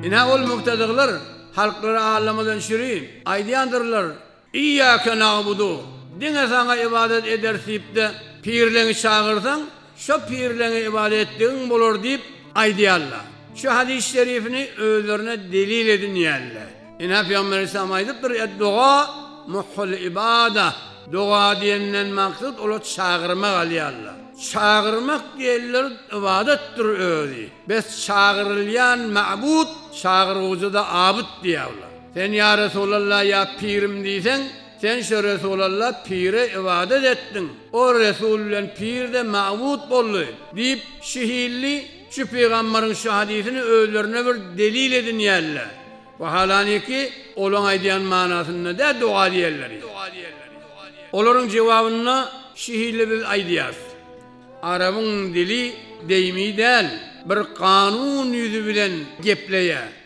Ine ol muktedygylar halklary allamadan şiri aýdýandyrlar, Iýýäke na'budu, diňe Saňa ybadat ederis diýip-de, pirleňi çagyrsaň, şo pirleňe ybadat etdigiň bolar diýip aýdýarlar. Şu hadys şerifini özlerine delil edinýärler. Ine, Pygamber Ysam aýdypdyr, Ed-doga muhul ibada, doga diýenden maksat olar çagyrma galýarlar. Çagyrmak diýenler ybadatdyr özi. Bes çagyrylýan mabud, çagyrguwjyda abyt diýäwla. Sen ýa Resulallah ýa pirim diýseň, sen şo Resulallah pire ybadat etdiň, o Resul bilen pir-de mabud boldy, diýip, şi hilli, Şu pygamberiň şu hadysini özlerine bir delil edinýärler. Wahalany ki, olaň aýdýan manasynda dä doga diýerleri. Olaryň jewabynda şu hili biz aýdýarys. Arabyň dili deými däl, bir kanun ýüzi bilen gepleýär.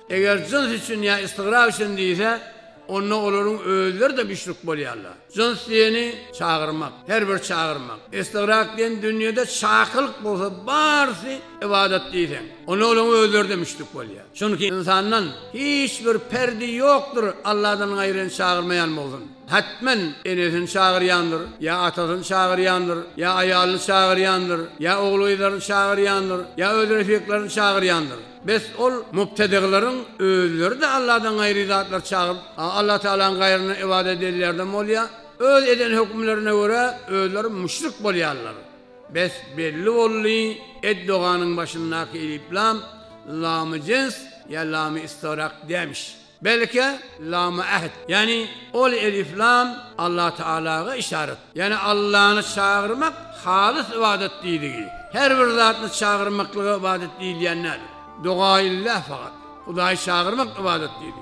Eger jyns üçin ýa istigrap üçin diýse, onda olaryň özleri-de müşrik bolýarlar. Jyns diýeni çagyrmak, her bir çagyrmak. Istigrap diýen dünýede çakylyk bolsa barysy ybadat diýseň, onda olaryň özleri-de müşrik bolýar. Çünki ynsandan hiç bir perdi ýokdur Alladan gaýryny çagyrmaýan bolsun. Hetmen enesini çagyrýandyr, ýa atasyny çagyrýandyr, ýa aýalyny çagyrýandyr, ýa ogulgyzlaryny çagyrýandyr, ýa öz refiklerini çagyrýandyr. Bes ol mubtedyglaryň özleri-de Alladan gaýry zatlar çagyryp, Allah Tagalaň gaýryna ybadat edýärden bolýar. Öz eden hökümlerine görä özleri müşrik bolýarlar. Bes belli boldy, ed-doganyň başyndaky eliplam, lamy jens ýa lamy-istigraq dämiş. Belki, Lama Ahd, ýagny ol Elif Lam Allah Taalaga yşarat, ýagny Allany çagyrmak halys ybadat diýdigi. Her bir zatny çagyrmaklyga ybadat diýilýän däl. Dogaillah fakat, Hudaýy çagyrmak ybadat diýdi.